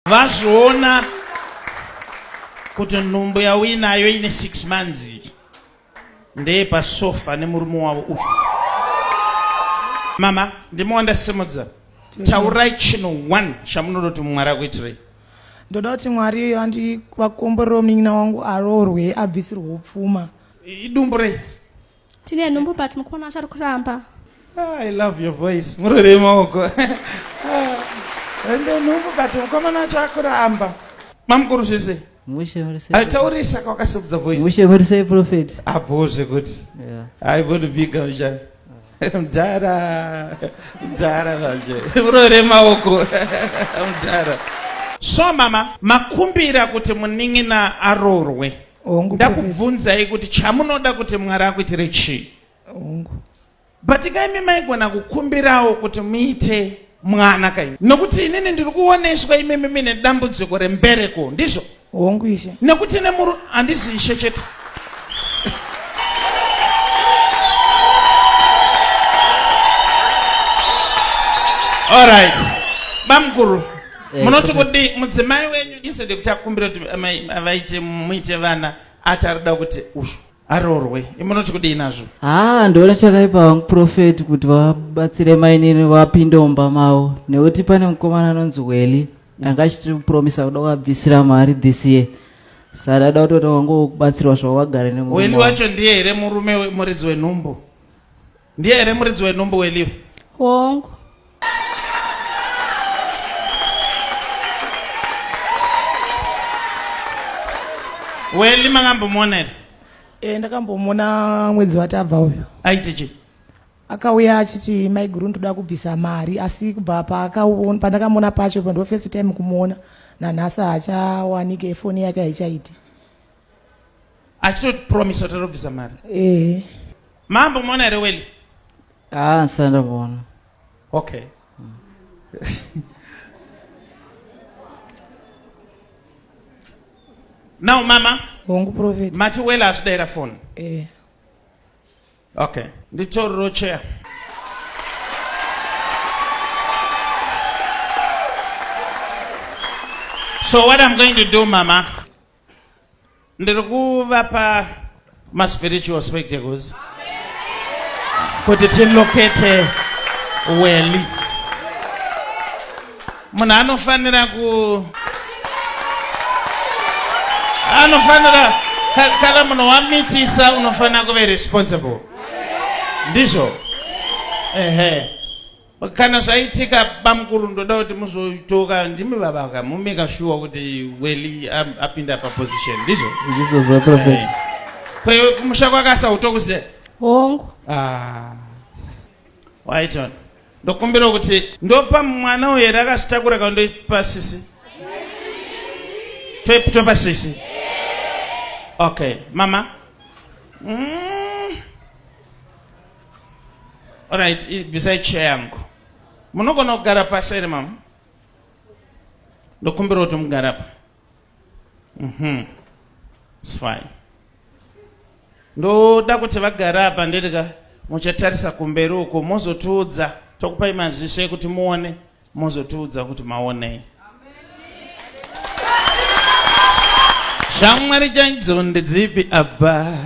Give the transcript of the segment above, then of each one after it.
vazviona kuti nhumbu yauinayo ine six months ndeye pasofa nemurume wavo uyu mama ndimi wandasimudza taurai chinhu one chamunoda kuti mwari akuitirei ndoda kuti mwari andivakomborewo munin'ina wangu aroorwe abvisirwe upfuma idumbu rei Tine nhumbu but mukomana wacho ari kuramba. Ah, I love your voice. Murore maoko. Ende nhumbu but mukomana wacho ari kuramba. Mamukuru zvese. Mushe muri sei? Taurisa kwakasubudza voice. Mushe muri sei prophet? Apo zvekuti. Yeah. I want to be gamjani. mdhara mdhara manje murore maoko mdhara so mama makumbira kuti munin'ina arorwe hongu ndakubvunzai kuti chamunoda kuti mwari akuitire chii hongu but kaimi maigona kukumbirawo kuti muite mwana kaimi nokuti inini ndiri kuoneswa imimi mine dambudziko rembereko ndizvo hongu ishe nekuti nemuru handizi ishe chete All right. Bamkuru. Eh, munoti kuti mudzimai wenyu isu ndekuti akumbira kuti vaite muite vana ati arikuda kuti ushu aroorwe imunoti kudii nazvo haa ndoona chakaipa vangu profeti kuti vabatsire mainini vapinde mumba mavo nekuti pane mukomana anonzi weli anga achiti kupromisa kuda kuvabvisira mari this year sadada kutoti wangu kubatsirwa zvavo vagare neweli wacho ndiye here murume muridzi wenhumbu ndiye here muridzi wenhumbu weliwe hongu weli makambomuona here e, ndakambomuona mwedzi watabva uyo aiti chii akauya achiti maiguru ndoda kubvisa mari asi kubva pandakamuona pacho ndo first time kumuona nanhasi haachawanike efoni yake haichaiti achitopromisa kuti arobvisa mari ehe mambo muona here weli Ah, sanda bona. Okay. now mama hongu prophet mati wela asidaira phone eh. okay nditoriro chair so what i'm going to do mama ndiri kuvapa maspiritual spectacles kuti tilokete weli munhu anofanira ku anofanira kana munhu wamitisa unofanira kuve responsible ndizvo ehe kana zvaitika bamukuru ndoda kuti muzotoka ndimi baba ka mumeka shuwa kuti weli apinda paposition ndizvo eh. kwewe kumusha kwakasa utokuze hongu ah. waiton ndokumbira kuti ndopa mwana uyo here akasitakura kandoipa sisi topa sisi okay mama mm. Alright, bvisai chair yangu. Munogona kugara pasi here mama? Ndokumbira kuti mugara pa. Mhm. It's fine. Ndoda kuti vagara apa ndirika muchatarisa kumberi uko mozotiudza tokupai maziso ekuti muone Mozotiudza kuti maonei. Shamwari chaidzo ndedzipi abba?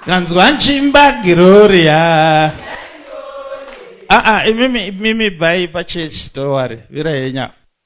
Kanzwa nchimba Gloria. Ah ah, imimi imimi bhai pachechi, don't worry. Vira yenya.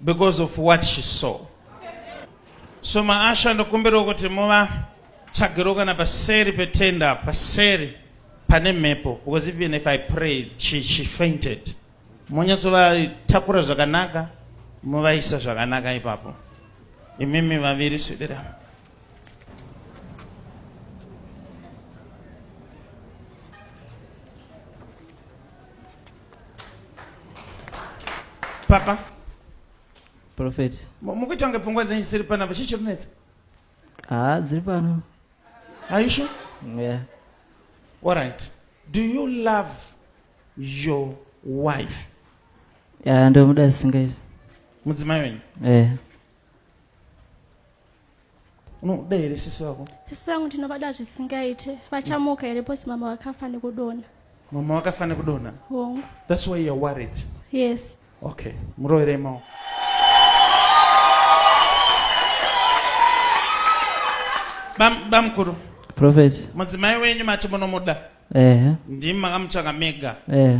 because of what she saw so maasha ndokumbirawo kuti muva tsvagirewo kana paseri petenda paseri pane mhepo because even if i prayed she, she fainted monyatsovatakura zvakanaka muvaisa zvakanaka ipapo imimi vaviri swidira papa profet mukuita kunge pfungwa dzenyu dzisiri panapa chii chokunetsa haa dziri pano aisho yeah. all right do you love your wife ya ndomuda singaita mudzimai wenyu yeah. unoda here sisi vako sisi vangu ndinovada zvisingaite vachamuka here posi mama vakafa nekudona mama vakafa nekudona hongu thats why youare worried yes okay muroverei maoko bamukuru prophet mudzimai wenyu mati munomuda ehe ndimi makamutsvaka mega ehe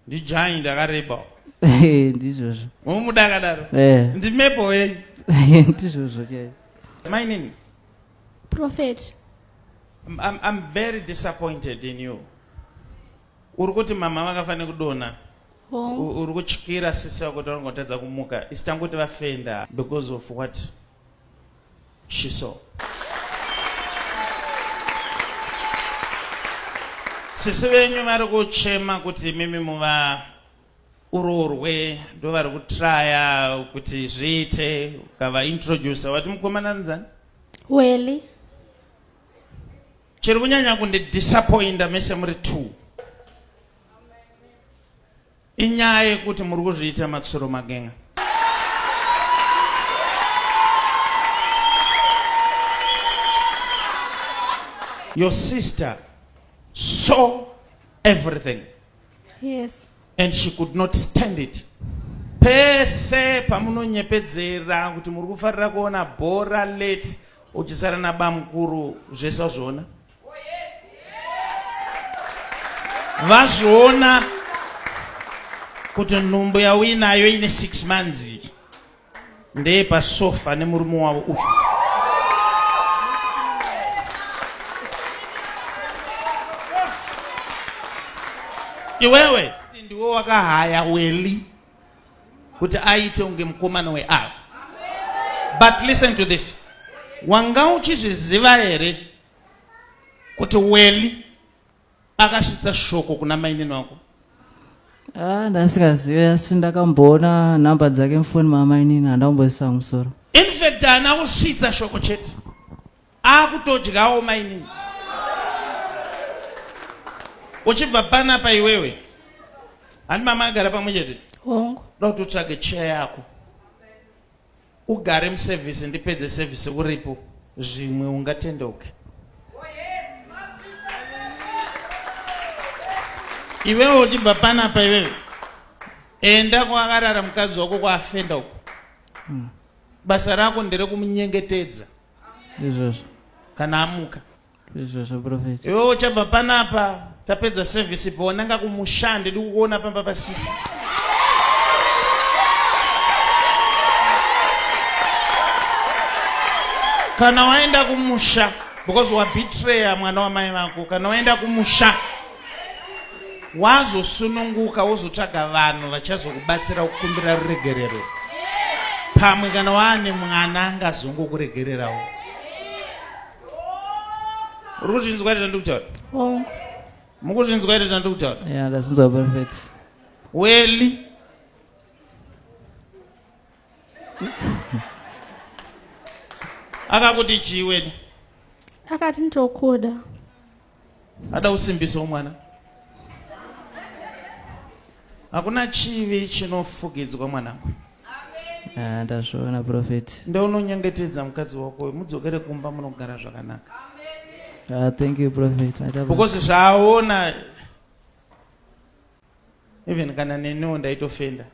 Ndidzvanyi ndakareba. Eh, ndizvozvo. Unomuda akadaro? Eh. Ndimepo wenyu. Eh, ndizvozvo chaizvo. My name? Prophet. I'm, I'm, I'm very disappointed in you. Uri kuti mama vakafanira kudona. Uri kutyira sisi vako kuti vanotadza kumuka. Isi tanguti vafenda because of what? She saw. Sisi venyu vari kuchema kuti mimi muva urorwe ndo vari kutraya kuti zviite ukava introducer wati mukomana nzani weli chiri kunyanya kundidisappointa mese muri two Inyaya yekuti muri kuzviita matsuro magenga. Your sister saw everything. Yes. And she could not stand it. Pese pamunonyepedzera kuti muri kufarira kuona bhora late uchisara nabamukuru zvese wazviona. vazviona kuti nhumbu yauinayo ine six months ndeye pasofa nemurume wavo uyu iwewe ndiwe wakahaya weli kuti aite unge mukomana weava but listen to this wanga uchizviziva here kuti weli akasvitsa shoko kuna mainini wako ah, ndasingazive asi ndakamboona nhamba dzake mufoni mamainini handamboisa musoro infact haana kusvitsa shoko chete akutodyawo mainini uchibva panapa iwewe handi mama agara pamwe chete hongu da kuti utsvage cheya yako ugare muservice ndipedze service uripo zvimwe ungatendeuke iwewe uchibva panapa iwewe enda kwakarara mukadzi wako kwaafenda uko hmm. basa rako nderekumnyengetedza izvozvo kana amuka izvozvo profeti iwe uchabva panapa tapedza service ibva wananga kumusha ndidi kukuona pamba pasisi kana waenda kumusha because wabetrayer mwana wamai vako kana waenda kumusha wazosununguka wozotsvaga vanhu vachazokubatsira kukumbira ruregerero pamwe kana waane mwana angazongokuregererawo uri kuzvinzwa ita ndikutaura oh. mukuzvinzwa ita ndikutaura ndazinzwa perfect weli akakuti chii weni akati nditokuda Ada kusimbiswa mwana. Hakuna chivi chinofugidzwa mwanangu. Ah, ndazviona prophet. Ndounonyengetedza mukadzi wako mudzokere kumba munogara zvakanaka. Uh, thank you prophet. Because zvaaona even kana neniwo ndaitofenda.